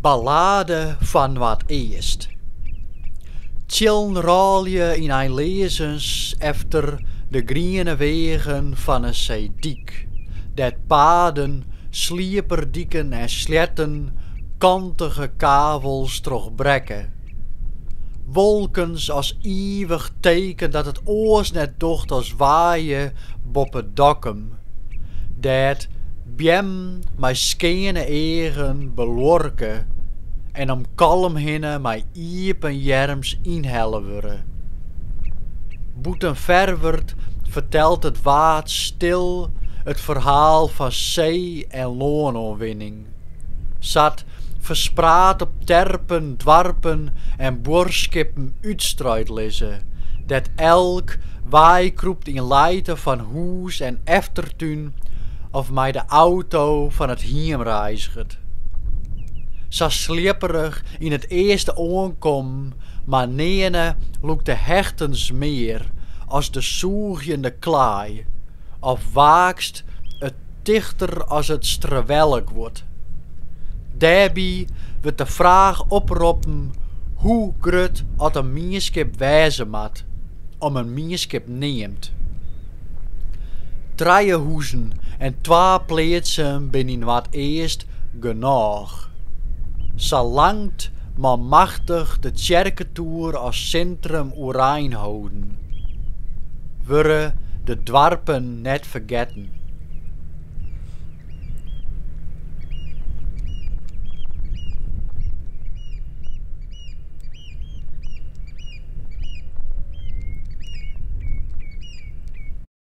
Ballade fan Noardeast. Tsjillen rôlje yn einleazens efter de griene weagen fan 'e seedyk, dêr't paden, slieperdiken en sleatten kantige kavels trochbrekke. Wolkens as ivich teken dat it oars net docht as waaie boppe Dokkum, dêr't beammen mei skeane eagen beluorke en om Kollum hinne mei iepen earms ynhelle wurde. Bûten Ferwert fertelt it Waad stil it ferhaal fan see en lânoanwinning. Sa't ferspraat op terpen, doarpen en buorskippen útstruid lizze, dêr't elk weikrûpt yn lijte fan hûs en eftertún of mei de auto fan it hiem reiziget. Sa slipperich yn it earste oankommen, mar nearne lûkt de hechtens mear as de sûgjende klaai of waakst it tichter as it strewelleguod. Dêrby wurdt de fraach oproppen hoe grut oft in mienskip wêze moat om in mienskip neamd. Trije hûzen en twa pleatsen binne yn Noardeast genôch. Salang't manmachtich de tsjerketoer as sintrum oerein holden, wurde de doarpen net fergetten.